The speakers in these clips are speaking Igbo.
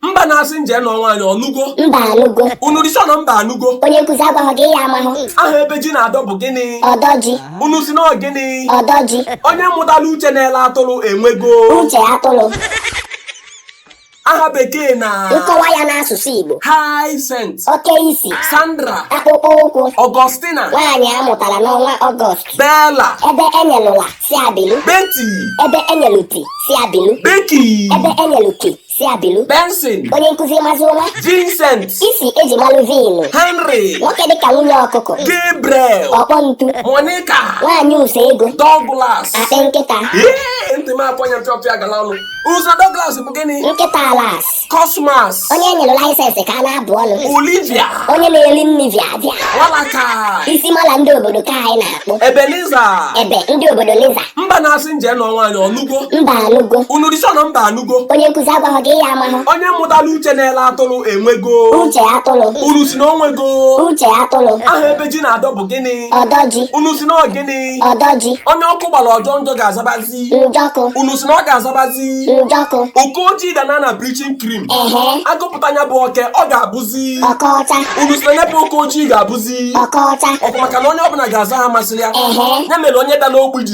mba na-asị nje nọ nwaanyị ọnụgo mba anụgo unu rịsọ na mba anụgo onye nkụzi agwaghị gị ya amahụ aha ebe ji na-adọ bụ gịnị ọdọji unu si na ọ gịnị ọdọji onye mụtara uche na-ele atụrụ enwego uche atụrụ aha bekee na nkọwa ya n'asụsụ igbo Hyacinth oke isi Sandra akpụkpọ ụkwụ Augustina nwaanyị a mụtara n'ọnwa ọgọst Bella ebe enyelụ la sị a bilu Betty ebe enyelụ ti sị a bilu Becky ebe enyelụ ki Sị a bilu, Benson, onye nkụzi Mazi Ụma, Vincent, isi eji malụ Vin, Henry, nwoke dịka nwunye ọkụkọ, Gabriel, ọkpọ ntu, Monica, nwaanyị ụsọ ego, Douglas. akpị nkịta, Ee, ntị m akpọnya mpịọpịa gala ọnụ. Ụsa Douglas bụ gịnị? nkịta alas, Cosmas, onye enyere laịsensị ka a na-abụ ọnụ, Olivia, onye na-eli nni via via, Malachy, isi mala ndị obodo ka anyị na-akpụ, Ebenezer. ebe ndị obodo Liza, Mba na-asị nje nọ nwaanyị ọnụgo. mba anụgo, Unu risọ na mba anụ. go onye nkụzi agwaghị gị ya amahụ onye mụtara uche na-ele atụrụ enwego uche atụrụ unu si na o nwego uche atụrụ aha ebe ji na-adọ bụ gịnị ọdọji unu si na ọ gịnị ọdọji onye ọkụ gbara ọ jọọ njọ ga-azabazi njọkụ unu si na ọ ga-azabazi njọkụ oke ojii dana na bleaching cream ehe agụpụta nya bụ oke ọ ga-abụzi ọkọcha unu si na nya bụ oke ojii ga-abụzi ọkọcha ọ bụ maka na onye ọbụla ga-aza aha masịrị ya Ehe. ya mere onye dara ogbi ji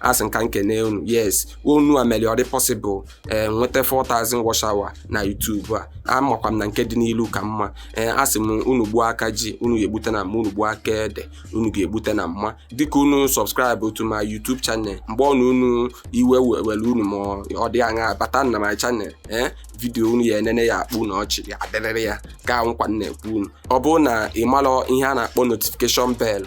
asị m ka m kene unu yes ọ unu a mere ọ dị possible ee nweta 4000 watch hour na YouTube a amakwa m na nke dị n'ilu ka mma ee asị m unu gbuo aka ji unu ga-egbute na mma unu gbuo aka ede unu ga-egbute na mma dịka unu subscribe to my YouTube channel mgbe ọ na unu iwe were unu ma ọ dị aṅa bata na my channel ee vidiyo unu ya-enene ya akpụ ọnụ ọchị ya adịrịrị ya ka nkwa m na-ekwe unu ọ bụrụ na ị marọ ihe a na-akpọ notification bell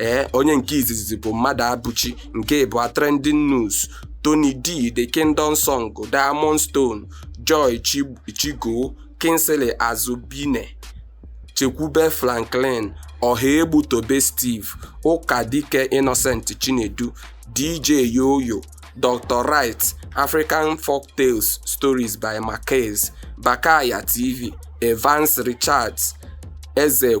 ee onye nke izizi bụ mmadụabụchi nke ịbụa trending news tony d the kingdom song diamond stone joy chigo kingsley azubine chekwube franklin ọhaegbu tobe steve ụkadike innocent chinedu dj yoyo dr right african folk tales stories by marquez bakaya tv evans richards eze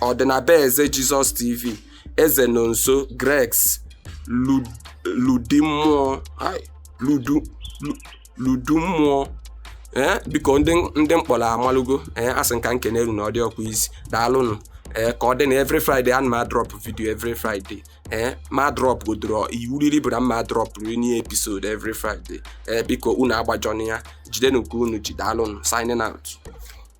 ọdịnabeze jesus tv eze nọnso gregs Lu- ludi mmụọ ai, ludu lu- ludu mmụọ ee biko ndị ndị m kpọrọ amalugo ee asị m ka m kene unu na ọ dị ọkwa isi daalụnụ ee ka ọ dị na every friday ana m adrọp video every friday ee ma drọp godoro iwu riri bụ na m ma drọp riri new episode every friday ee biko unu agbajọna ya jidenụ nke unu ji daalụnụ signing out